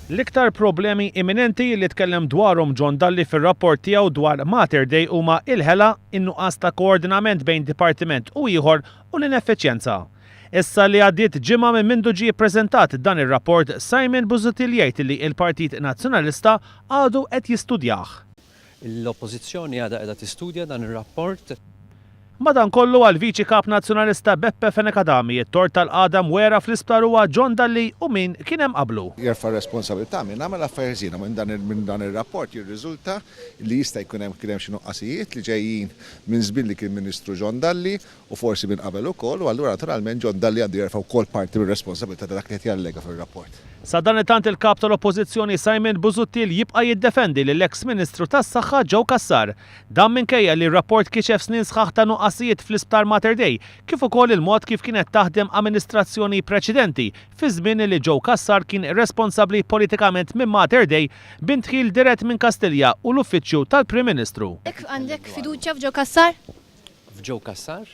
L-iktar problemi imminenti li tkellem dwarhom John Dalli fir-rapport tiegħu dwar Mater Dei huma l-ħela, in-nuqqas ta' koordinament bejn dipartiment u ieħor u l-ineffiċjenza. Issa li għaddiet ġimgħa minn mindu ġie ppreżentat dan ir-rapport, Simon Busuttil jgħid li l-Partit Nazzjonalista għadu qed jistudjah. L-Oppożizzjoni għadha qiegħda tistudja dan ir-rapport. Madankollu, għall-Viċi Kap Nazzjonalista Beppe Fenech Adami, it-tort tal-qagħda mwegħra fl-isptar huwa John Dalli u min kien hemm qablu. Jerfa' r-responsabilità min għamel affarijiet ħżiena. Minn dan ir-rapport jirriżulta li jista' jkun hemm kien hemm xi nuqqasijiet li ġejjin minn żmien li kien Ministru John Dalli u forsi minn qabel ukoll, u allura naturalment John Dalli għandu jerfa' wkoll parti mir-responsabilità ta' dak li qed jallega fir-rapport. Sadanittant il-Kap tal-Oppożizzjoni Simon Busuttil jibqa' jiddefendi lill-eks Ministru tas-Saħħa Joe Cassar. Dan minkejja li r-rapport kixef snin sħaħ ta' nuqqasijiet fl-Isptar Mater Dei kif ukoll il-mod kif kienet taħdem amministrazzjoni preċedenti fiż-żmien li Joe Cassar kien responsabbli politikament minn Mater Dei b'indħil dirett minn Kastilja u l-Uffiċċju tal-Prim Ministru. Għandek fiduċja f'Joe Cassar? F'Joe Cassar?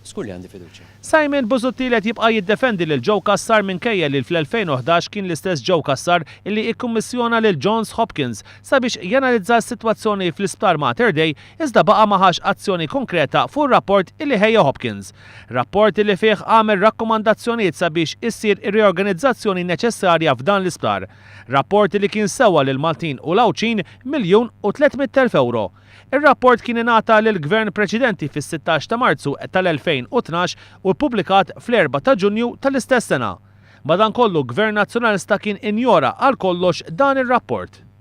Żgur li għandi fiduċja. Simon Busuttil qed jibqa' jiddefendi lil Joe Cassar minkejja li fl-2011 kien l-istess Joe Cassar illi ikkummissjona lil Johns Hopkins sabiex janalizza s-sitwazzjoni fl-Isptar Mater Dei iżda baqa' ma ħax azzjoni konkreta fuq ir-rapport illi ħejja Hopkins. Rapport illi fih għamel rakkomandazzjonijiet sabiex issir ir-riorganizzazzjoni neċessarja f'dan l-isptar. Rapport illi kien sewa lill-Maltin u l-Għawdxin miljun u tliet mitt elf ewro. Ir-rapport kien ingħata lill-Gvern preċedenti fis-sittax ta' Marzu tal-2012 u ppubblikat fl-erbgħa ta' Ġunju tal-istess sena. Madankollu, Gvern Nazzjonalista kien injora għal kollox dan ir-rapport.